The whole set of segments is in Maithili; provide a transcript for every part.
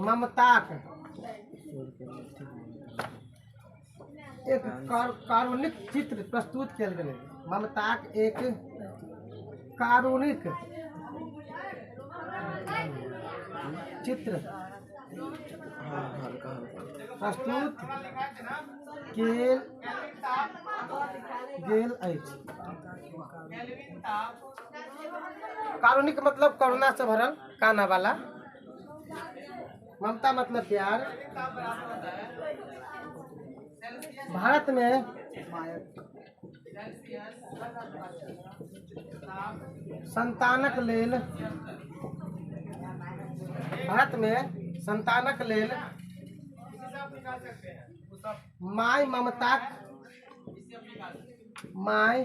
ममताक एक कार- कारुणिक चित्र प्रस्तुत कयल गेलै ममताक एक कारुणिक चित्र प्रस्तुत कयल गेल अछि कारुणिक मतलब करुणा से भरल काना वाला ममता मतलब प्यार भारत में संतानक लेल भारत में संतानक लेल माय ममताक माय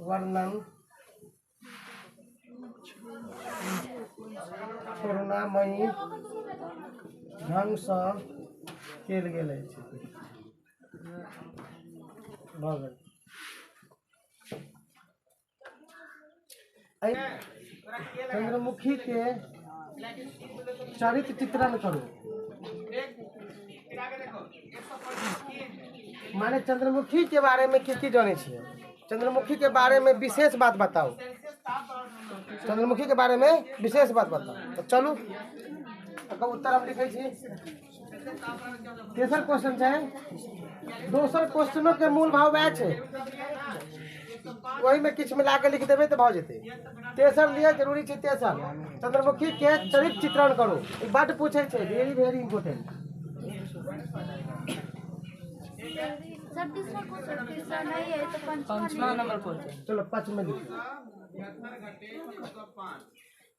वर्णन करुणामयी ढङ्गसँ कयल गेल अछि भऽ गेल चंद्रमुखी के चरित्र चित्रण करू माने चंद्रमुखी के बारे में की की जाने छियै चंद्रमुखी के बारे में विशेष बात बताओ चंद्रमुखी के बारे में विशेष बात बताओ तो चलू एकर उत्तर हम लिखै छी तेसर क्वेश्चन छै दोसर क्वेश्चनो के मूल भाव वएह छै ओहिमे किछु मिला के लिख देबै तऽ भऽ जेतै तेसर लिए जरूरी छै तेसर चंद्रमुखी के चरित्र चित्रण करू ई बड पूछै छै वेरी वेरी इंपोर्टेंट सर तीसरा क्वेश्चन तीसरा नहीं है तो पंचमा नंबर क्वेश्चन चलो पाँच में लिख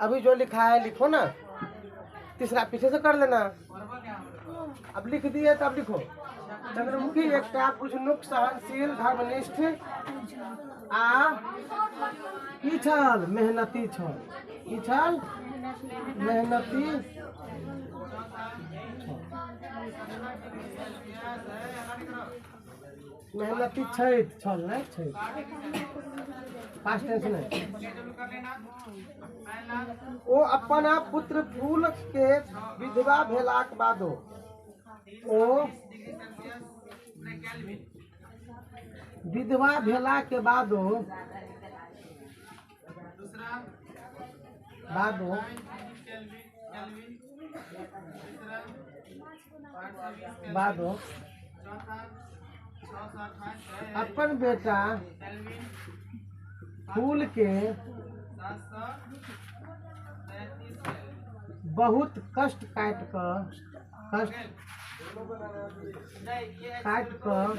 अभी जो लिखा है लिखो ना तीसरा पीछे से कर लेना अब लिख दिए तो अब लिखो चंद्रमुखी एकटा पुष्णुक सहनशील धर्मनिष्ठ आ की छल मेहनती छल की छल मेहनती छल। मेहनती छथि छल नहि छथि पास्ट टेंस नहि ओ अपन पुत्र फूल के विधवा भेलाक बादो ओ विधवा भेला के बादो दूसरा बाबू बाबू अपन बेटा फूल के बहुत कष्ट काट कर कष्ट काट कर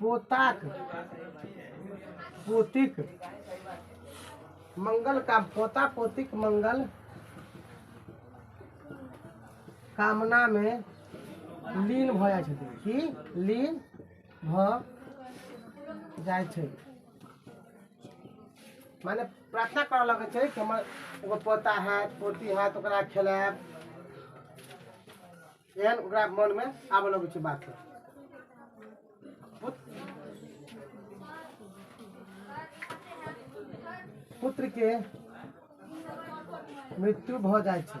पोताक पोतीक मंगल काम पोता पोतीक मंगल कामना मे लीन भऽ जाइ छथिन की लीन भऽ जाइ छै माने प्रार्थना करऽ लगै छै कि हमर एगो पोता हैत पोती हैत ओकरा खेलायब एहन ओकरा मनमे आबऽ लगै छै बात सब पुत्र के मृत्यु भऽ जाइ छै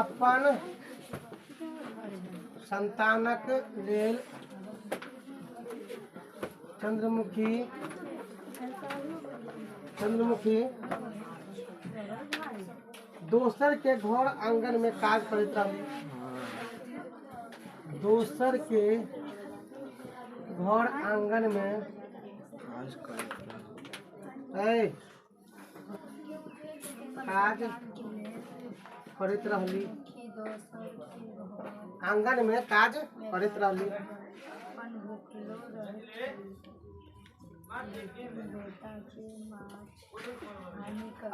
अपन संतानक लेल चंद्रमुखी चंद्रमुखी दोसर के घर आंगन में काज करैत रहली दोसर के घर आंगन में आज कल ऐ काज करैत रहली आंगन में काज करैत रहली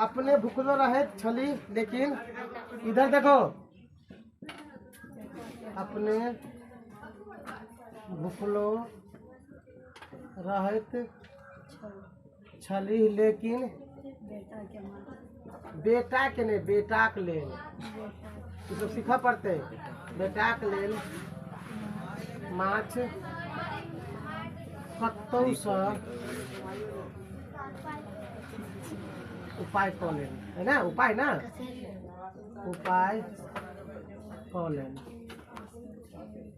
अपने भुखलो रहैत छली लेकिन इधर देखो अपने भुखलो रहैत छलीह लेकिन बेटाके नहि बेटाक लेल ईसभ सीखऽ पड़तै बेटाक लेल माछ कतहुसँ उपाय कऽ लेन है ना उपाय ना उपाय कऽ लेन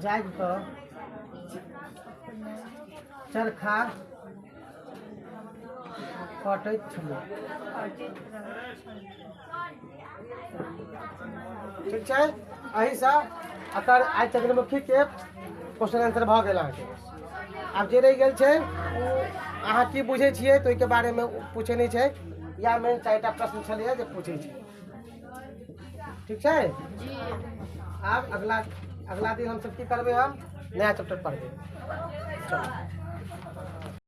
जाग कऽ चरखा कटैत छलहुँ ठीक छै एहिसँ एकर आइ चंद्रमुखीके क्वेश्चन आंसर भऽ गेल अहाँके आब जे रहि गेल छै ओ अहाँ की बुझै छियै तऽ ओहिके बारेमे ओ पूछै नहि छै या मेन चारि टा प्रश्न छलैए जे पूछै छै ठीक छै आब अगला अगला दिन हमसभ की करबै हम नया चैप्टर पढ़बै चलू